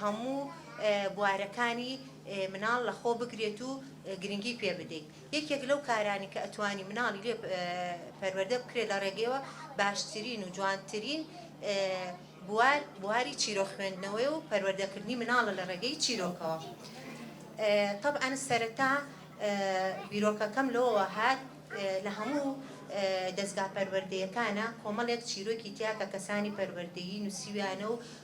هەموو بوارەکانی مناڵ لەخۆ بگرێت و گرنگی پێ بدەیت یەکێک لەو کارانی کە ئەتوانی مناڵی لێ پەروەردە بکرێت لە ڕێگەیەوە باشترین و جوانترین بوار بواری چیرۆ خوێندنەوەی و پەروەردەکردنی مناڵە لە ڕێگەی چیرۆکەوە طبعا سەرەتا بیرۆکەکەم لەوەوە هات لە هەموو دەستگا پەروەردەیەکانە کۆمەڵێک چیرۆکی تیا کە کەسانی پەروەردەیی نووسیویانە و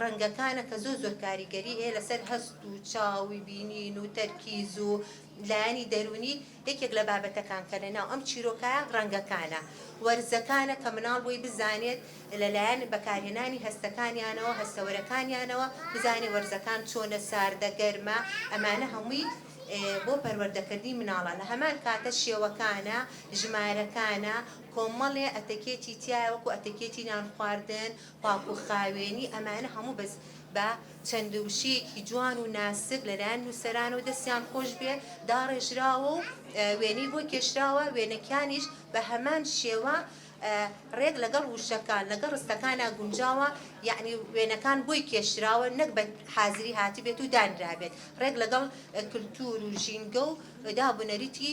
ڕەنگەکانە کە زۆر زۆر کاریگەری هەیە لەسەر هەست و چاو و بینین و تەرکیز و لایەنی دەروونی یەکێک لە بابەتەکان کە لەناو ئەم چیرۆکایە ڕەنگەکانە وەرزەکانە کە مناڵ بۆی بزانێت لەلایەن بەکارهێنانی هەستەکانیانەوە هەستەوەرەکانیانەوە بزانێت وەرزەکان چۆنە ساردە گەرمە ئەمانە هەمووی بۆ پەروەردەکردنی مناڵە لە هەمان کاتە شێوەکانە ژمارەکانە کۆمەڵێ ئەتەکێتی تایە وەکو ئەتەکێتی نان خواردن پاک و خاوێنی ئەمانە هەموو بەس بە چەند وشەیەکی جوان و ناسک لەلایەن نووسەرانەوە دەستیان خۆش بێ داڕێژراوە و وێنەی بۆ کێشراوە وێنەکانیش بە هەمان شێوە ڕێک لەگەڵ وشەکان لەگەڵ ڕستەکانە گونجاوە یعنی وێنەکان بۆی کێشراوە نەک بە حازری هاتی بێت و دانرابێت ڕێک لەگەڵ کللتور و ژینگە و دابنەریتی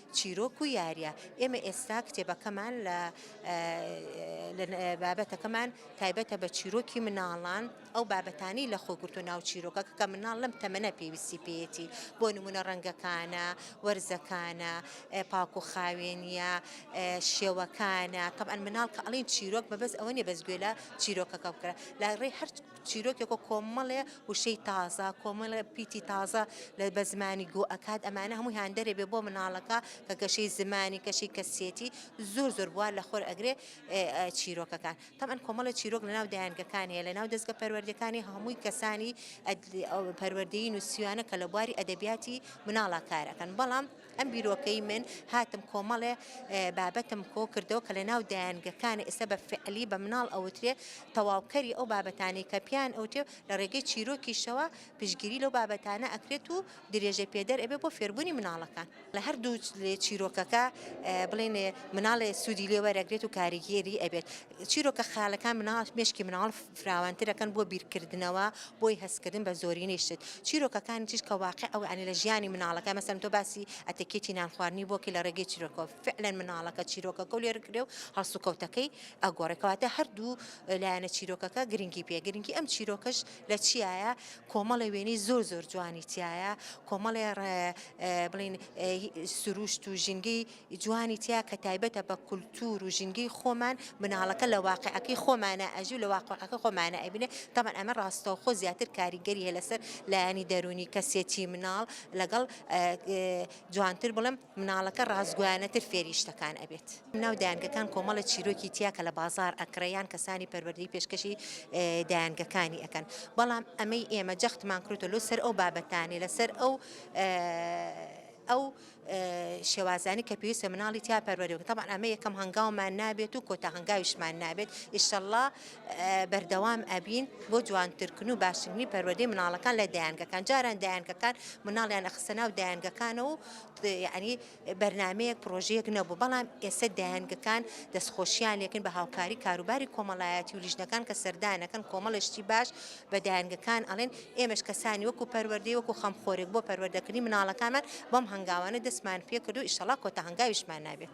چیرۆک و یارییە، ئێمە ئێستا کتێبەکەمان لە بابەتەکەمان تایبەتە بە چیرۆکی مناڵان، ئەو بابەتانەی لەخۆ گرتووە ناو چیرۆکە کە مناڵ لەم تەمەنە پێویستی پێیەتی، بۆ نموونە ڕەنگەکانە، وەرزەکانە، پاک و خاوێنییە، شێوەکانە، تەبعەن مناڵ کە ئەڵێین چیرۆک مەبەست ئەوە نییە بەس گوێ لە چیرۆکەکە بکەرە لە ڕێی هەر چیرۆکێک و کۆمەڵێ وشەی تازە کۆمەڵێ پیتی تازە لە بە زمانی گۆ ئەکات ئەمانە هەمووی هاندەرێ بێ بۆ مناڵەکە کە گەشەی زمانی کەشی کەسێتی زۆر زۆر بوار لە خۆر ئەگرێ چیرۆکەکان تەمان کۆمەڵە چیرۆک لە ناو دایانگەکان هەیە لە ناو دەستگە پەروەردەکانی هەمووی کەسانی پەروەردەی نووسیوانە کە لە بواری ئەدەبیاتی مناڵە کارەکەن بەڵام ئەم بیرۆکەی من هاتم کۆمەڵێ بابەتم کۆ کردەوە کە لە ناو دایانگەکان ئێستا بە فعلی بە مناڵ ئەوترێ تەواوکەری ئەو بابەتانی کە پیان ئەوتێ لە ڕێگەی چیرۆکیشەوە پشگیری لەو بابەتانە ئەکرێت و درێژە پێدەر ئەبێ بۆ فێربوونی مناڵەکان لە هەردوو چیرۆکەکە بڵێن مناڵێ سوودی لێوەرەگرێت و کاریگەری ئەبێت چیرۆکە خەیاڵەکان مناڵ مێشکی مناڵ فراوانترەکەن بۆ بیرکردنەوە بۆی هەستکردن بە زۆرینەی شت چیرۆکەکانی تیش کە واقع ئەو ئەنی لە ژیانی مناڵەکە مەسەن تۆ باسی ئەتەکێتی نان خواردنی بۆکی لە ڕێگەی چیرۆکۆ فعلەن مناڵەکە چیرۆکەکە و لێرکرێ و هەڵسوکەوتەکەی ئەگۆڕێکەواتە هەردوو لایەنە چیرۆکەکە گرنگی پێ گرنگی ئەم چیرۆکەش لە چیایە کۆمەڵە وێنەی زۆر زۆر جوانی تایە کۆمەڵێ بڵین سروشت و ژینگەی ی جوانی تیا کە تایبەتە بە کولتور و ژینگەی خۆمان، مناڵەکە لە واقیعەکەی خۆمانا ئەژی و لە واقیعەکەی خۆمانا ئەبینێ، تەبعەن ئەمە ڕاستەوخۆ زیاتر کاریگەری هەیە لەسەر لایەنی دەروونی کەسێتی مناڵ لەگەڵ جوانتر بڵێم مناڵەکە ڕاستگۆیانەتر فێری شتەکان ئەبێت. ناو دایەنگەکان کۆمەڵە چیرۆکی تیا کە لە بازاڕ ئەکڕێ یان کەسانی پەروەردەی پێشکەشی دایەنگەکانی ئەکەن بەڵام ئەمەی ئێمە جەختمان کردۆتە لۆ سەر ئەو بابەتانەی لەسەر ئەو ئەو شێوازانەی کە پێویستە مناڵی تیا پەروەردە بکرێت تەبعەن ئەمە یەکەم هەنگاومان نابێت و کۆتا هەنگاویشمان نابێت ئیشەڵڵا بەردەوام ئەبین بۆ جوانترکن و باشترنی پەروەردەی مناڵەکان لە دایانگەکان جاران دایانگەکان مناڵیان ئەخسە ناو دایانگەکانە و ینی بەرنمەیەک پرۆژەیەک نەبوو بەڵام ئێستا دایانگەکان دەستخۆشیان لێکن بە هاوکاری کاروباری کۆمەڵایەتی و لیژنەکان کە سەردانەکەن کۆمەڵشتی باش بە دایەنگەکان ئەڵێن، ئێمەش کەسانی وەکو پەروەردەی وەکو خەمخۆرێک بۆ پەروەردەکردنی مناڵەکانمان بەم هەنگاوانە دەستمان پێ کردو ئیشەڵا کۆتا هەنگاویشمان نابێت.